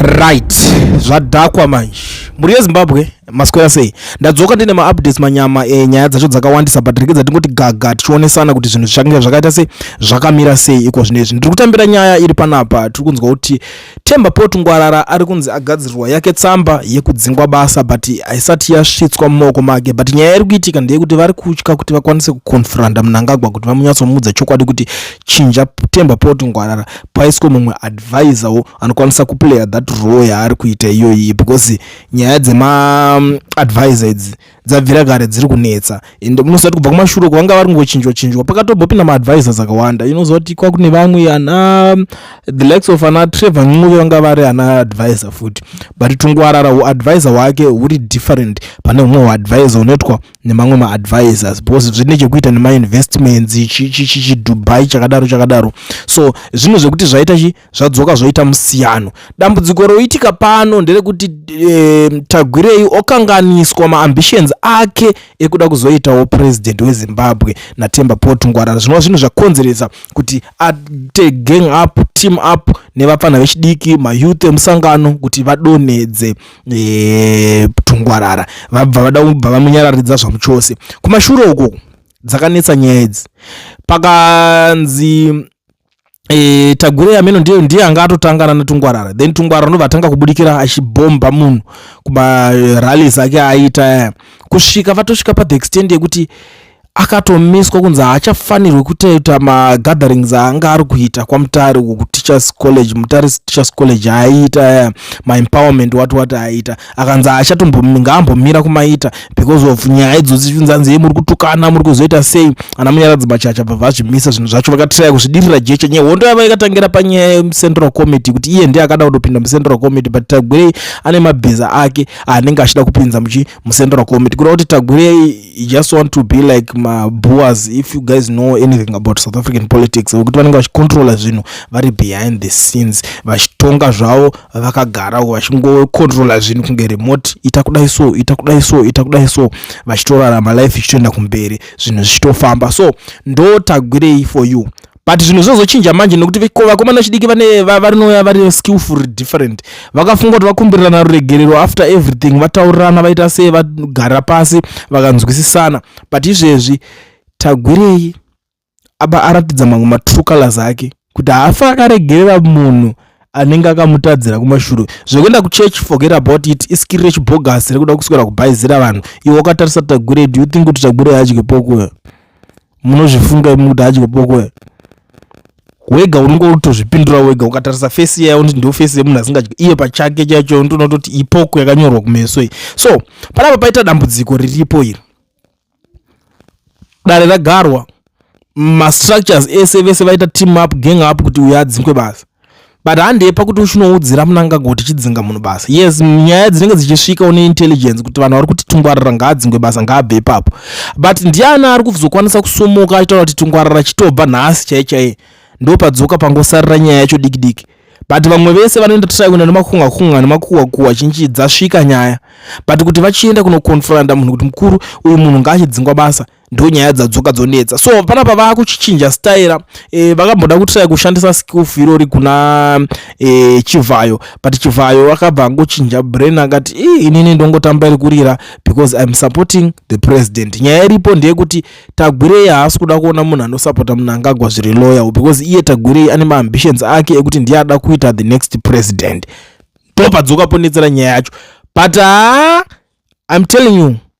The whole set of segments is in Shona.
right zvadhakwa manje mhuri yezimbabwe maswera sei ndadzoka ndine maupdates manyama e, nyaya dzacho dzakawandisa but rekedza tingoti gaga tichionesana kuti zvinhu zvichange zvakaita sei zvakamira sei iko zvino izvi ndiri kutambira nyaya iri panapa tiri kunzwa kuti temba pot ngwarara ari kunzi agadzirirwa yake tsamba yekudzingwa basa but haisati yasvitswa mumaoko make but nyaya iri kuitika ndeyekuti vari kutya kuti vakwanise kuconfranda munangagwa kuti vamunyatsomudza chokwadi kuti chinja temba pot ngwarara paiswe mumwe advisor wo anokwanisa kuplayer that role yaari kuita iyoyi because nyaya dzemaadvisor mm, idzi dzabvira kare dziri kunetsa and munoziva kuti kubva kumashure uko vanga vari kungochinjwa chinjwa pakatombopinda maadvisors akawanda inoziva kuti kwa kune vamwe ana mm, the likes of ana trevor ncuve vanga vari ana advisor futi but tungwarara huadvisor hwake huri different pane humwe huadvisor hunoitwa nemamwe maadvisors because zvine chekuita nemainvestments chidubai chakadaro chakadaro so zvinhu zvekuti zvaita chi zvadzoka zvoita musiyano dambudziko roitika pano nderekuti e, tagwirei okanganiswa maambitions ake ekuda kuzoitawo president wezimbabwe natemba port ngwarara zvinova zvinhu zvakonzeresa kuti ate gang up team up nevapfana vechidiki mayouth emusangano kuti vadonhedze e, tungwarara vabva vada kubva vamunyararidza zvamuchose kumashure uko dzakanetsa nyaya idzi pakanzi e, tagure yameno ndiyo ndiye anga atotangana netungwarara then tungwarara ndobva atanga kubudikira achibhomba munhu kumarallies ake aita kusvika vatosvika pabackstand yekuti akatomiswa kunzi haachafanirwe kutoita magatherings aanga ari kuita kwamutare uko kuteachers college mutare teachers college aiita eh, maempowerment wati wati aiita akanzi haachatombongaambomira kumaita because of nyaya idzodzi chinzanzi ye muri kutukana muri kuzoita sei ana munyaradzi machacha bva vazvimisa zvinhu zvacho vakatiraya kuzvidirira jecha nyaya hondo yava yakatangira panyaya yemucentral committee kuti iye ndiye akada kutopinda mucentral committee but tagwirei ane mabhiza ake anenge achida kupinza muchi mucentral committee kuda kuti tagwirei you just want to be like maboas if you guys know anything about south african politics vekuti vanenge vachicontrola zvinhu vari behind the scenes vachitonga zvavo vakagara uko vachingocontrola zvinhu kunge remote ita kudai so ita kudai so ita kudai so vachitorarama life ichitoenda kumberi zvinhu zvichitofamba so ndo tagwirei for you but zvinhu zvinozochinja manje nekuti vakomana vechidiki vane varinouya vari skillful different vakafunga kuti vakumbirirana ruregerero after everything vataurirana vaita sei vagara pasi vakanzwisisana but izvezvi tagwirei aba aratidza mamwe matrue colors ake kuti haafi akaregerera munhu anenge akamutadzira kumashure zvekuenda kuchurch forget about it iskiri rechibhogasi rekuda kuswera kubhaizira vanhu iwe wakatarisa tagwirei do you think kuti tagwirei adye pokuyo munozvifunga imi kuti hadyo boko here wega unenge utozvipindura wega ukatarisa fesi yayo ndi ndofesi yemunhu asingadyi iye pachake chaicho ndonototi ipoko yakanyorwa kumeso iyi so panapa paita dambudziko riripo iri dare ragarwa mastructures ese vese vaita team up gang up kuti uyo adzingwe basa but handei pakuti uchinoudzira munangagwa tichidzinga munhu basa yes nyaya dzinenge dzichisvika une intelligence kuti vanhu vari kuti tungwarara ngaadzingwe basa ngaabve ipapo but ndiani ari kuzokwanisa kusumuka achitaura kuti tungwarara chitobva nhasi chai chai ndopadzoka pangosarira nyaya yacho diki diki but vamwe vese vanoenda try kuenda nemakunga kunga nemakuwa kuwa chinchi dzasvika nyaya but kuti vachienda kunoconfronta munhu kuti mukuru uyu munhu ngaachidzingwa basa ndo nyaya dzadzoka dzonetsa so panapa vakuchichinja staira e, eh, vakamboda kutrai kushandisa skilf irori kuna e, chivhayo but chivhayo akabva angochinja brain akati inini ndongotamba iri kurira because iam supporting the president nyaya iripo ndeyekuti tagwirei haasi kuda kuona munhu anosapota munhu angagwa zviri loyal because iye tagwirei ane maambitions ake ekuti ndiye ada kuita the next president ndopadzoka ponetsera nyaya yacho but haa ah, iam telling you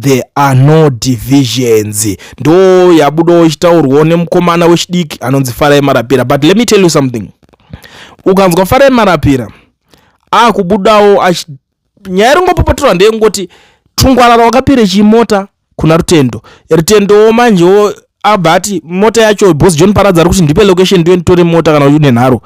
there are no divisions ndo yabudawo ichitaurwawo nemukomana wechidiki anonzi farai marapira but let me tell you something ukanzwa farai marapira akubudawo achi nyaya iringopopotorwa ndeyengoti tungwarara wakapere chimota kuna rutendo rutendowo manjewo abva ati mota yacho bos john paradza ari kuti ndipe location ndiyo nditore mota kana une nharo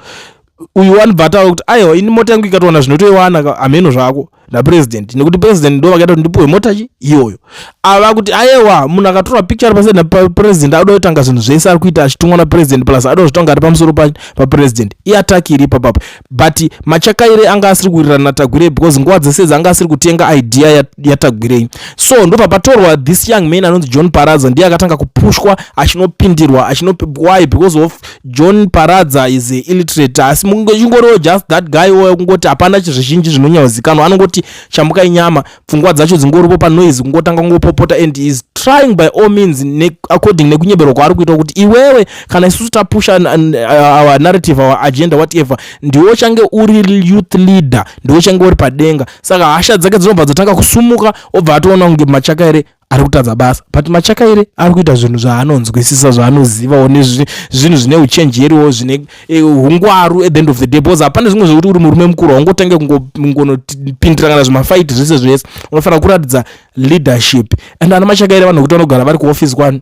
uyu one but ava kuti aiwa ini mota yangu ikatowana zvinotoiwana hameno zvako napresident nekuti president ndo vakaita kuti ndipuwe mota chi iyoyo ava kuti ayewa munhu akatora picture ari paside napresident adoda kutanga zvinhu zvese ari kuita achitumwa napresident plus adoda zvitanga ari pamusoro papresident iataki iri ipapapo but machakaire anga asiri kuwirirana natagwirei because nguva dzese dzi anga asiri kutenga idea yatagwirei so ndo papatorwa this young man anonzi john paraza ndiye akatanga kupushwa achinopindirwa achinopi why because of John Paradza is a illiterate asi chingoriwo just that guy oyo kungoti hapana chizvizhinji zvinonyauzikanwa anongoti chambuka inyama pfungwa dzacho dzingoripo panoise kungotanga kungopopota and is trying by all means ne, according nekunyeberwa kwaari kuita kuti iwewe kana isusu tapusha uh, our narrative our agenda whatever ndiwo change uri youth leader ndiwo change uri padenga saka hasha dzake dzinobva dzatanga kusumuka obva atoona kunge machaka here ari kutadza basa but machakaire ari kuita zvinhu zvaanonzwisisa zvaanozivawo nezvinhu zvine uchenjeriwo zvine eh, ungwaru at the end of the day bcause hapana zvimwe zvekuti uri murume mukuru haungotange kungonopindira kana zvimafaiti zvese zvese unofanira kuratidza leadership and ana machakaire vanhu vekuti vanogara vari kuoffice kwani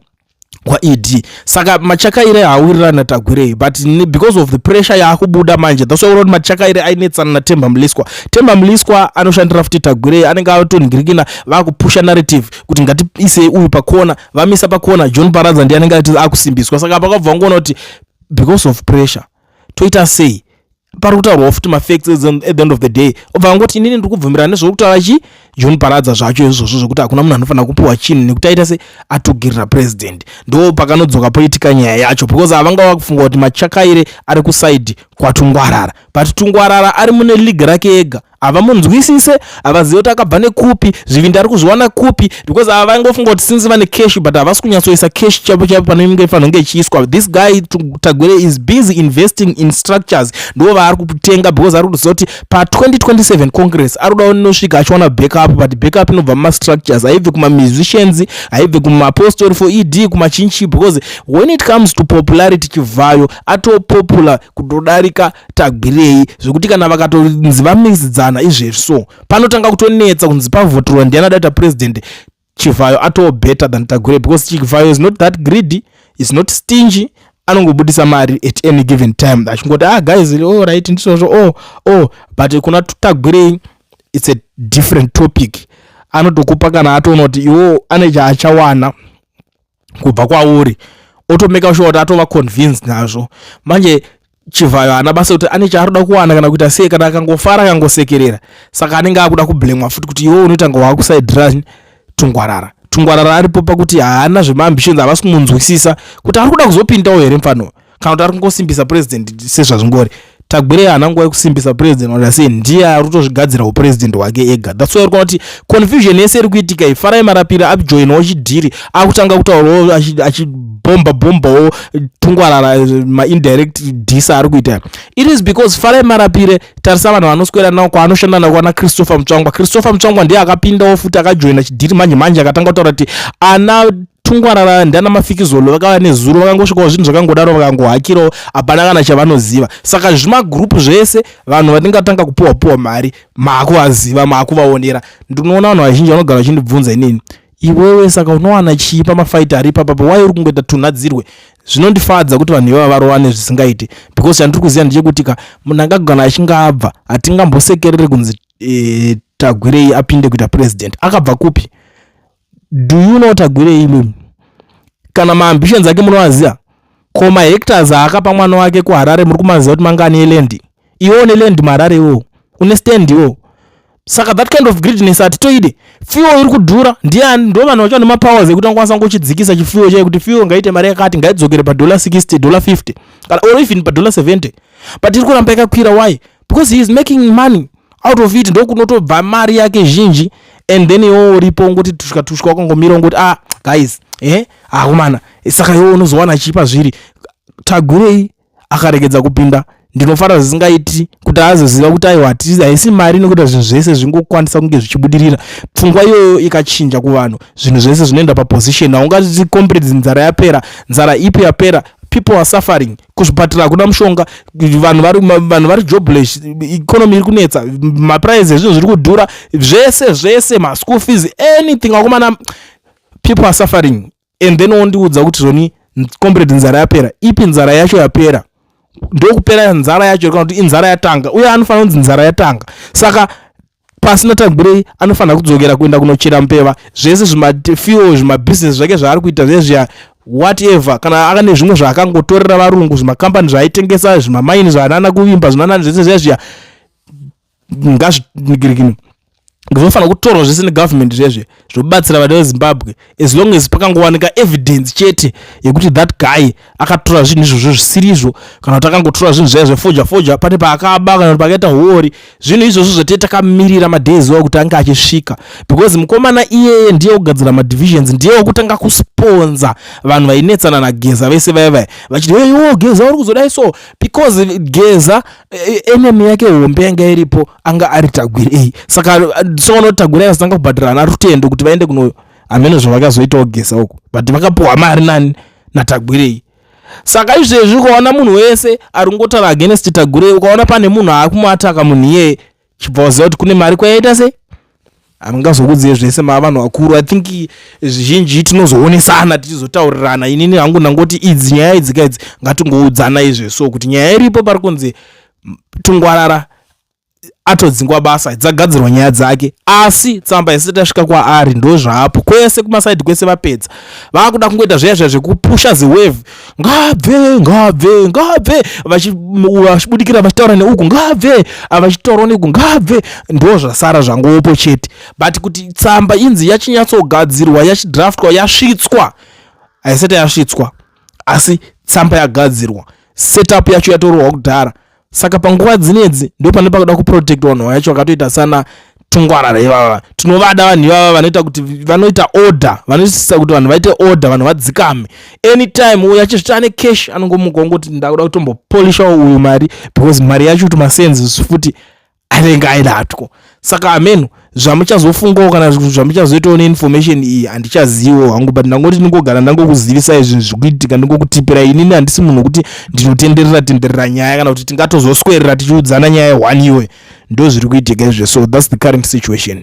kwaed saka machakaire haawirirani natagwirei but because of the pressure yaakubuda manje that's why unoona kuti machakaire ainetsana natemba mliswa temba mliswa anoshandira futi tagwirei anenge atonhingirikina vakupusha narrative kuti ngatiisei uyu pakona vamisa pakona john paradza ndiye anenge ati akusimbiswa saka pakabva ngoona kuti because of pressure toita sei pari kutaurwawo futi mafacts at the end of the day obva angoti inini ndiri kubvumirana nezviri kutaura chi john paradza zvacho izvozvo zvekuti hakuna munhu anofanira kupiwa chinhu nekuti aita se atugirira president ndo pakanodzoka poitika nyaya yacho because havanga vakufunga kuti machakaire ari kusaidi kwatungwarara but tungwarara ari mune league rake ega havamunzwisise havazive kuti akabva nekupi zvivindi ari kuzviwana kupi because ava vaingofunga kuti since vane cash but havasi kunyatsoisa cash chaipo chaipo panoinge fanonge ichiiswa this guy tagwere is busy investing in structures ndo vaari kutenga because ari kutoziva kuti pa2027 congress ari kuda unosvika achiwana backup but backup inobva mumastructures haibve kumamusicians haibve kumaapostori for ed kumachinchi because when it comes to popularity chivhayo atopopular kutodarika tagwirei zvekuti kana vakatonzi vamisidzana izvezvi so panotanga kutonetsa kunzi pavotirwa ndiani adaita president chivhayo atoo better than tagwirei because chivhayo is not that greedy is not stingy anongobudisa mari at any given time achingoti ah guys oh right ndisozvo oh oh but kuna tagwirei it's a different topic anotokupa kana atoona kuti iwo ane chaachawana kubva kwauri otomeka sure kuti atova convinced nazvo manje chivhayo haana basa kuti ane chaaroda kuwana kana kuita sei kana akangofara akangosekerera saka anenge akuda kublemwa futi kuti iwe unotanga waakusaidira tungwarara tungwarara aripo pakuti haana zvemaambitions havasi kumunzwisisa kuti ari kuda kuzopindawo here mfanoyo kana kuti ari kungosimbisa president sezvazvingori tagwirei haana nguva yekusimbisa president wati sei ndiye ari kutozvigadzira upresident hwake ega thats why rikuona kuti confusion yese iri kuitika iyi farai marapira ajoinawo chidhiri akutanga kutaurawo achibhomba bhombawo tungwarara eh, maindirect disa ari kuita it is because farai marapire tarisa vanhu vanoswera nawo kwaanoshanda navo kwana christopher mutsvangwa christopher mutsvangwa ndiye akapindawo futi akajoina chidhiri manje manje akatanga kutaura kuti ana tungwarara ndiana mafikizolo vakava nezuro vakangosvikawo zvinhu zvakangodaro vakangohakirawo hapana kana chavanoziva saka zvimagroup zvese vanhu vatingatanga kupiwa piwa mari maakuvaziva maakuvaonera ndinoona vanhu vazhinji vanogara vachindibvunza inini iwewe saka unowana chii pamafaita ari ipapapa wai uri kungoita tunhadzirwe zvinondifadza kuti vanhu ivava varowane zvisingaiti because chandiri kuziva ndechekuti ka munhu angagona achinge abva hatingambosekerere kunzi e, tagwirei apinde kuita president akabva kupi do you know tagwirei imi kana maambitions ake munoaziva ko mahectors aakapa mwana wake kuharare muri kumaziva kuti mangani eland iwo une land muharare iwo une stand iwo saka that kind of greediness hatitoide fuel iri kudhura ndiani ndo vanhu vacho nemapowers ekuti angakwanisa ngochidzikisa chifuel chaye kuti fuel ngaite mari yakati ngaidzokere padollar 60 dollar 50 kana or even padollar 70 but iri kuramba yakakwira why because he is making money out of it ndokunotobva mari yake zhinji and then iwo uripo ungoti tushwa tushwa wakangomira ungoti ah guys eh akomana ah, saka iwo unozowana chipa zviri tagwirei akaregedza kupinda ndinofara zvisingaiti kuti azoziva kuti aiwa haisi mari inokuita zvinhu zvese zvingokwanisa kunge zvichibudirira pfungwa iyoyo ikachinja kuvanhu zvinhu zvese zvinoenda paposition haungati comrades nzara yapera nzara ipi yapera people are suffering kuzvipatira hakuna mushonga vanhu vari vanhu vari jobless economy iri kunetsa maprice ezvinhu zviri kudhura zvese zvese maschool fees anything akomana people are suffering and then wondiudza kuti zvoni comrade nzara yapera ipi nzara yacho yapera ndokupera nzara yacho kana kuti inzara yatanga uye anofanira kunzi nzara yatanga saka pasina tangwirei anofanira kudzokera kuenda kunochera mbeva zvese zvimafuel zvimabhizinesi zvake zvaari kuita zvezviya whatever kana aka nezvimwe zvaakangotorera varungu zvimakambani zvaaitengesa zvimamaini zvaanana kuvimba zvinanani zvese zviya zviya ngazvinigirikino zvofanira kutorwa zvese negovernment zvezve zvobatsira vana vezimbabwe as long as pakangowanika evidence chete yekuti that guy akatora zvinhu izvozvo zvisirizvo kana kuti akangotora zvinhu zvaya zvefoja foja pane paakaba kana kuti pakaita huori zvinhu izvozvo zvatee takamirira madays wao kuti ange achisvika because mukomana iyeye ndiye kugadzira madivisions ndiye wekutanga kusponza vanhu vainetsana nageza vese vaya vaya vachiti heyo geza uri kuzodai so because geza e, e, enemy yake hombe yanga iripo anga ari tagwirei saka soona kuti tagwirei asitanga kubhadhira ana rutendo kuti vaende kuno hameno zvavakazoitawo gesa uko but vakapuhwa mari nani natagwirei saka izvezvi ukaona munhu wese ari kungotaura against tagwirei ukaona pane munhu aakumuataka munhu iyeye chibva waziva kuti kune mari kwayaita sei hamungazokudziye zvese maa vanhu vakuru i think zvizhinji tinozoonesana tichizotaurirana inini hangu ndangoti idzi nyaya idzi ka idzi ngatingoudzana izve so kuti nyaya iripo pari kunzi tungwarara atodzingwa basa dzagadzirwa nyaya dzake asi tsamba yese tasvika kwaari ndo zvaapo kwese kumasaidi kwese vapedza vaakuda kungoita zviya zviya zvekupusha ziwave ngaabve ngaabve ngaabve vachibudikira vachitaura neuku ngaabve avachitaurwa neuku ngaabve ndo zvasara zvangopo chete but kuti tsamba inzi yachinyatsogadzirwa yachidraftwa yasvitswa haisati yasvitswa asi tsamba yagadzirwa setup yacho yatororwa kudhara saka panguva dzinedzi ndo pane pakuda kuprotect vanhu vacho vakatoita sana tungwarara ivava tinovada vanhu ivava vanoita kuti vanoita order vanosisa kuti vanhu vaite order vanhu vadzikame anytime uyo achizvita ane cash anongomuka ongoti ndakuda kutombopolishawo uyu mari because mari yacho kuti masenses futi anenge aidatwo saka ameno zvamuchazofungawo kana zvamuchazoitawo neinformation iyi handichaziviwo hangu but ndangoti ndingogara ndangokuzivisai zvinhu zvikuitika ndingokutipira inini handisi munhu wekuti ndinotenderera tenderera nyaya kana kuti tingatozoswerera tichiudzana nyaya one iwe ndo zviri kuitika izve so thats the current situation